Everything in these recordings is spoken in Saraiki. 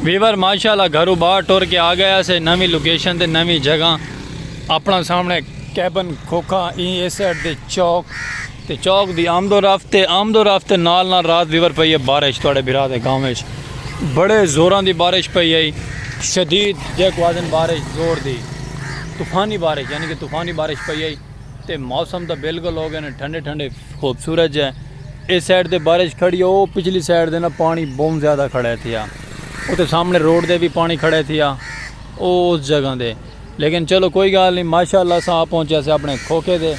ویور ماشاء اللہ گھرو باہر ٹر کے آ گیا سے نویں لوکیشن تے نویں جگہ اپنا سامنے کیبن کھوکھا ای اس سائڈ دے چوک تے چوک دی آمد و رفت تے آمد و رفت نال نال رات ویور پئی ہے بارش تواڈے بھرا دے گاؤں وچ بڑے زوراں دی بارش پئی ہے شدید جے کو آدن بارش زور دی طوفانی بارش یعنی کہ طوفانی بارش پئی ہے تے موسم دا بالکل ہو گئے نے ٹھنڈے ٹھنڈے خوبصورت جے اس سائیڈ تے بارش کھڑی ہو پچھلی سائیڈ تے نا پانی بہت زیادہ کھڑے تھیا او تے سامنے روڈ دے بھی پانی کھڑے تھیا او اس جگہ دے لیکن چلو کوئی گال نہیں ماشاءاللہ سا پہنچے سے اپنے کھوکے دے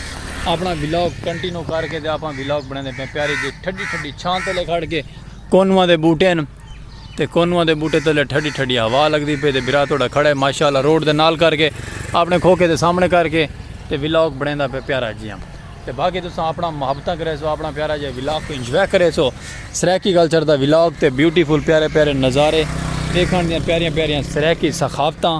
اپنا ویلاگ کنٹینو کر کے دے اپنا ویلاگ بنے دے پیاری جی ٹھڈی ٹھڈی چھانتے لے کھڑ کے کونواں دے بوٹے ہیں تے کونواں دے بوٹے تلے ٹھڈی ٹھڈی ہوا لگدی پئ تے بھرا تہاڈا کھڑے ماشاء اللہ روڈ دے نال کر کے اپنے کھوکھے دے سامنے کر کے تے ولاگ بنیندا پئ پیارا جیاں تے باقی تساں اپنا محبتاں کریسو اپنا پیارا جیاں ولاگ کوں انجوائے کریسو سرائیکی کلچر دا ولاگ تے بیوٹیفل پیارے پیارے نظارے دیکھن دیاں پیاریاں پیاریاں سرائیکی ثقافتاں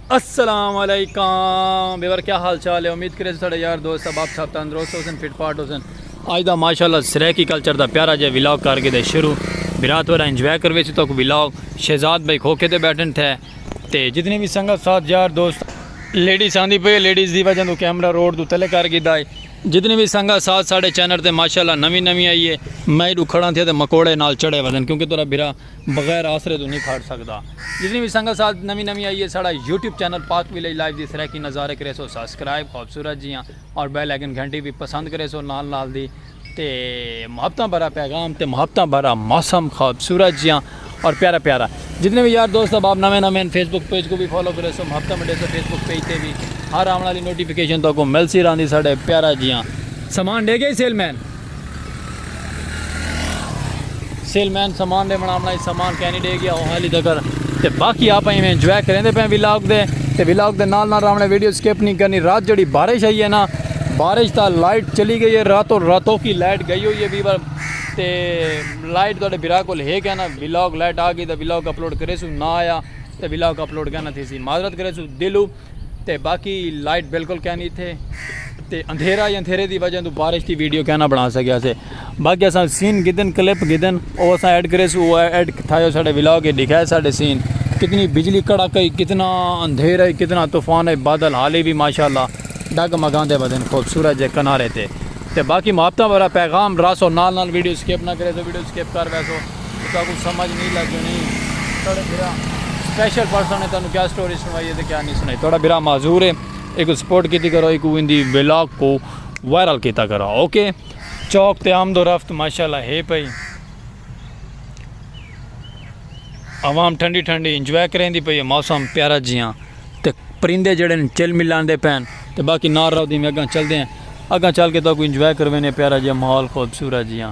السلام علیکم بیور کیا حال چال ہے امید کرے ساڑے یار دوست اب آپ سب تندرست ہوسن فٹ پارٹ ہوسن آج دا ماشاءاللہ سریکی کلچر دا پیارا جے ویلاگ کر کے دے شروع برات ورہ انجوائے کروے سی توک ویلاگ شہزاد بھائی کھوکے دے بیٹھن تھے تے جتنے بھی سنگت ساتھ یار دوست لیڈیز آندی پہ لیڈیز دی وجہ دو کیمرہ روڈ دو تلے کر گی دائی جتنے بھی سنگا ساتھ ساڑے چینر تے ماشاءاللہ نوی نوی آئیے میں دو کھڑا تھے تے مکوڑے نال چڑے وزن کیونکہ تورا بھرا بغیر آسرے توں نی کھاڈ سگدا۔ جتنی وی سنگت ساتھ نوی نوی آئی ہے ساڈا YouTube channel Pak village life دی سرائیکی نظارے کریسو سبسکرائب خوبصورت جیاں اور بیل آئیکن گھنٹی وی پسند کریسو نال نال دی تے محبتاں بھرا پیغام تے محبتاں بھرا موسم خوبصورت جیاں اور پیارا پیارا جتنے وی یار دوست احباب نویں نویں ہیں فیس بک پیج کو بھی فالو کریسو محبتاں مڈیسو فیس بک پیج تے بھی ہر آون والی نوٹیفیکیشن تو کو ملسی راندی ساڈے پیارا جیاں سامان ڈے گئی سیل مین سیل مین سامان دے بنا بنائی سامان کہنی دے گیا ہوں حالی تکر تے باقی آپ ہی میں انجوائے کریں دے پہ ویلاگ دے تے ویلاگ دے نال نال رامنے ویڈیو سکیپ نہیں کرنی رات جڑی بارش آئی ہے نا بارش تا لائٹ چلی گئی ہے راتوں راتوں کی لائٹ گئی ہوئی ہے بیبر تے لائٹ دوڑے برا کو لے گیا نا ویلاگ لائٹ آگئی تا ویلاگ اپلوڈ کرے سو نا آیا تے ویلاگ اپلوڈ کرنا تھی سی معذرت کرے سو دلو تے باقی لائٹ بالکل کینی تھے تے اندھیرا یا اندھیرے دی وجہ تو بارش دی ویڈیو کینا بنا سکیا سے باقی اساں سین گدن کلپ گدن او اساں ایڈ کرے سو او ایڈ تھایو ساڈے ولاگ کے دکھائے ساڈے سین کتنی بجلی کڑا کئی کتنا اندھیرا ہے کتنا طوفان ہے بادل حالی بھی ماشاءاللہ ڈگ مگان دے بدن خوبصورت جے کنارے تے تے باقی محبتہ ورا پیغام راسو نال نال ویڈیو سکیپ نہ کرے سو ویڈیو سکیپ کر ویسو تساں کوں سمجھ نی لگنڑی۔ تہاڈا بھرا سپیشل پرسن ہے تہانوں کیا سٹوری سنڑائی ہے تے کیا نی سنڑائی تہاڈا بھرا معذور ہے ایکوں سپورٹ کیتی کرو ایکوں ایندی ولاگ کوں وائرل کیتا کرو اوکے چوک تے آمد و رفت ماشاءاللہ ہے پئی عوام ٹھنڈی ٹھنڈی انجوائے کریندی پئی ہے موسم پیارا جیاں تے پرندے جیڑھے ہن چل ملاندے پئے ہن تے باقی نال رہو دی میں اگاں چلدے ہیں اگاں چل کے تہاکوں انجوائے کرویندے ہیں پیارا جیاں ماحول خوبصورت جیاں۔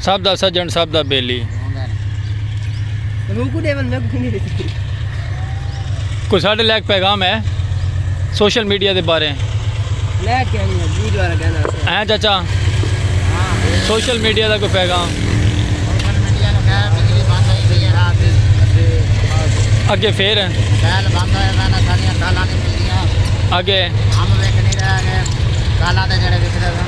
سب دا سجن سب دا بیلی کوئی ساڑھے لیک پیغام ہے سوشل میڈیا دے بارے ہیں چاچا سوشل میڈیا دا کوئی پیغام اگے پھر اگے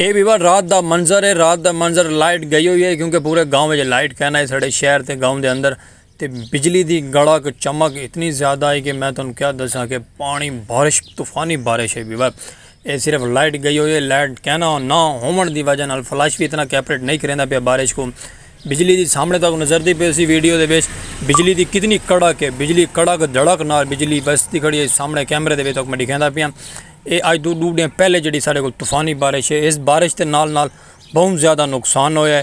اے بھی وڈ رات دا منظر ہے رات دا منظر لائٹ گئی ہوئی ہے کیونکہ پورے گاؤں وچ لائٹ کہنا ہے ساڑے شہر تے گاؤں دے اندر تے بجلی دی گڑک چمک اتنی زیادہ آئی کہ میں تانوں کیا دساں کہ پانی بارش طوفانی بارش ہے بیبا اے صرف لائٹ گئی ہوئی ہے لائٹ کہنا نہ ہوون دی وجہ نال فلش بھی اتنا کیپریٹ نہیں کریندا پیا بارش کو بجلی دی سامنے تک نظر دی پی سی ویڈیو دے بیچ بجلی دی کتنی کڑک ہے بجلی کڑک دھڑک نال بجلی بس دی کھڑی ہے سامنے کیمرے دے بیچ تک میں دکھیندا پیا اے آج دو ڈو ڈے پہلے جڑی سارے کو طوفانی بارش ہے اس بارش دے نال نال بہت زیادہ نقصان ہویا ہے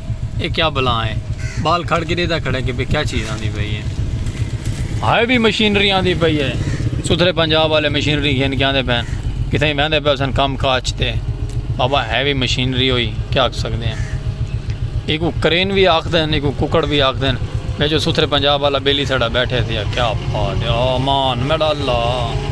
اے کیا بلاں اے بال کھڑ کے دیدھا کھڑے کہ بے کیا چیز آندی پئی اے ہائے بھی مشینری آندی پئی اے ستھرے پنجاب والے مشینری گھن کے آندے پین کتھے ہی مہندے پہ سن کام کاج تے بابا ہے بھی مشینری ہوئی کیا آکھ سکتے ہیں ایک وہ کرین بھی آکھ دین ایک وہ ککڑ بھی آکھ دین میں جو ستھرے پنجاب والا بیلی سڑا بیٹھے تھے کیا پا دیا آمان میڈا اللہ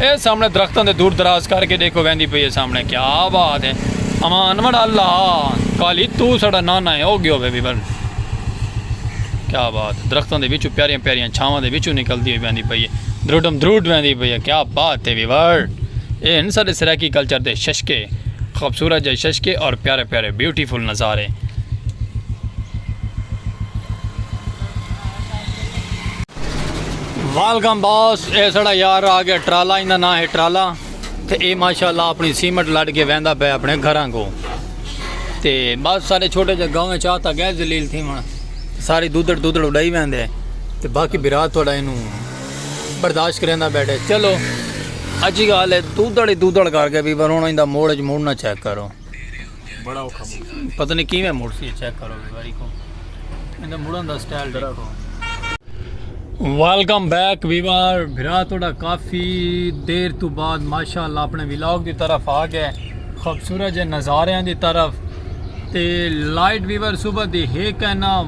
اے سامنے درختاں دے دور دراز کر کے ڈیکھو ویندی پئی ہے سامنے کیا بات ہے اما انور اللہ کالی تو سڑا نانا ہے او گیو بے بی بن کیا بات ہے درختاں دے وچوں پیاریاں پیاریاں چھاواں دے وچوں نکلدی ہوئی ویندی پئی ہے دروڈم دروڈ ویندی پئی ہے کیا بات ہے ویور اے ان سارے سرائیکی کلچر دے ششکے خوبصورت جائے ششکے اور پیارے پیارے بیوٹیفل نظارے ویلکم باس اے سڑا یار آ گیا ٹرالا ایندا نام ہے ٹرالا تے اے ماشاءاللہ اپنی سیمٹ لڑ کے ویندا پے اپنے گھراں کو تے بس سارے چھوٹے جے گاؤں وچ آتا گئے ذلیل تھی من ساری دودڑ دودڑ اڈائی ویندے تے باقی برا تھوڑا اینو برداشت کریندا بیٹھے چلو اجی گال ہے دودڑ ہی دودڑ کر کے بھی پر ہن ایندا موڑ وچ موڑنا چیک کرو بڑا اوکھا موڑ سی پتہ نہیں کیویں موڑ سی چیک کرو ایک واری کو ایندا موڑن دا سٹائل دیکھو ویلکم بیک ویوار بھرا تھوڑا کافی دیر تو بعد ماشاءاللہ اپنے ویلاگ دی طرف آ گئے خوبصورت جے نظاریاں دی طرف تے لائٹ ویور صبح دی ہے کہنا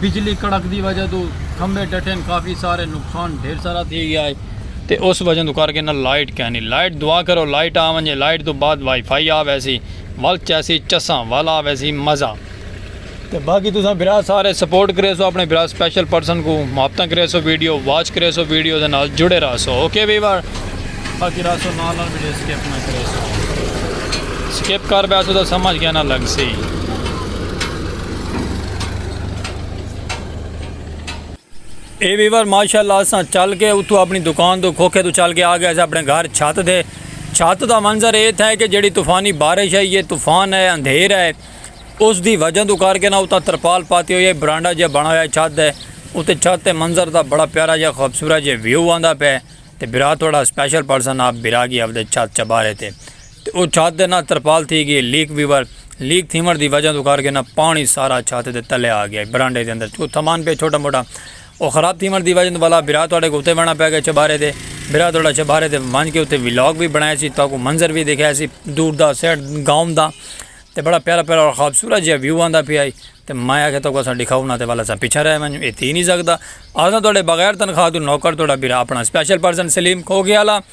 بجلی کڑک دی وجہ توں کھمبے ڈٹین کافی سارے نقصان ڈھیر سارا تھی گیا ہے تے اس وجہ توں کر کے نہ لائٹ کینی لائٹ دعا کرو لائٹ آ ونجے لائٹ توں بعد وائی فائی آ ویسی ول چیسی چساں ول آ ویسی مزہ تے باقی تساں بھرا سارے سپورٹ کریسو اپنے بھرا سپیشل پرسن کو محبتاں کریسو ویڈیو واچ کریسو ویڈیو دے نال جڑے رہسو اوکے ویور باقی رہسو نال نال ویڈیو سکپ نہ کریسو سکپ کر بیسو تو سمجھ گیا نہ لگ سی اے ویور ماشاءاللہ اساں چل کے اتو اپنی دکان تو کھوکھے تو چل کے آ گئے اپنے گھر چھت دے چھت دا منظر اے تھا کہ جڑی طوفانی بارش ہے یہ طوفان ہے اندھیر ہے اس دی وجہ تو کر کے نہ اتنا ترپال پاتی ہوئی ہے برانڈا جے بنا ہویا ہے چھت دے اتنے چھت دے منظر دا بڑا پیارا جے خوبصورت جے ویو آندا پہ تے برا تھوڑا سپیشل پرسن آپ برا گی اپنے چھت چبارے تے تے او چھت دے نال ترپال تھی گئی لیک ویور لیک تھیوݨ دی وجہ توں کر کے نہ پاݨی سارا چھت دے تلے آ گیا برانڈے دے اندر چوں تھمان پیا چھوٹا موٹا او خراب تھیوݨ دی وجہ توں ولا بھرا تہاݙے کوں اتے ویݨا پے گئے چھبارے تے بھرا تہاݙا چھبارے تے ونج کے اتے ولاگ وی بݨائے سی تہاکوں منظر وی دکھائے سی دور دا سیٹ گاؤں دا تے بڑا پیارا پیارا اور خوبصورت جیا ویو آندا پیا ہئی تے میں آکھیا تہاکوں اساں ݙکھاؤ نہ تے ولا اساں پچھے رہ ونڄوں اے تھی نی سڳدا اساں تہاݙے بغیر تنخواہ توں نوکر تہاݙا بھرا اپݨا اسپیشل پرسن سلیم کھوکھیالہ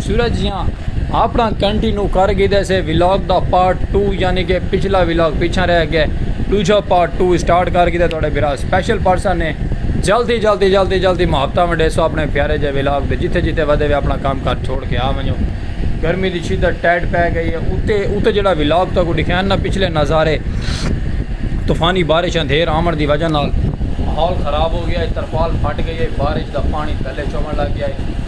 سورج جیاں آپنڑاں کنٹینو کر گھیدے سے ولاگ دا پارٹ ٹو یعنی کہ پچھلا ولاگ پیچھاں رہ گئے ڈوجھا پارٹ ٹو اسٹارٹ کر گھیدے تہاڈے بھرا اسپیشل پرسن نے جلدی جلدی جلدی جلدی محبتاں ونڈیسو اپنے پیارے جے ولاگ دے جتھے جتھے ودے وے اپنا کام کر چھوڑ کے آ ونجو گرمی دی شدت ٹیڈ پے گئی ہے اتے اتے جڑا ولاگ تو کو دکھائن نہ پچھلے نظارے طوفانی بارش اندھیر آمن دی وجہ نال ماحول خراب ہو گیا ہے ترپال پھٹ گئی ہے بارش دا پانی تھلے چومن لگ گیا ہے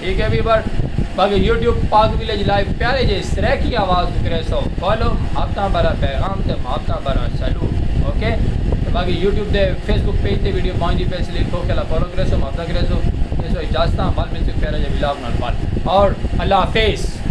ٹھیک ہے ویور باقی یوٹیوب پاک ویلیج لائیو پیارے جے سریکی آواز کو کرے سو فالو محبتاں برا پیغام تے محبتاں برا سلوٹ اوکے تے باقی یوٹیوب دے فیس بک پیج تے ویڈیو پہنچدی پیس لیے کھو کلا فالو کرے سو محبتاں کرے سو تے سو اجازتاں بل ملتے پیارے جے ولاگ نال بل اور اللہ حافظ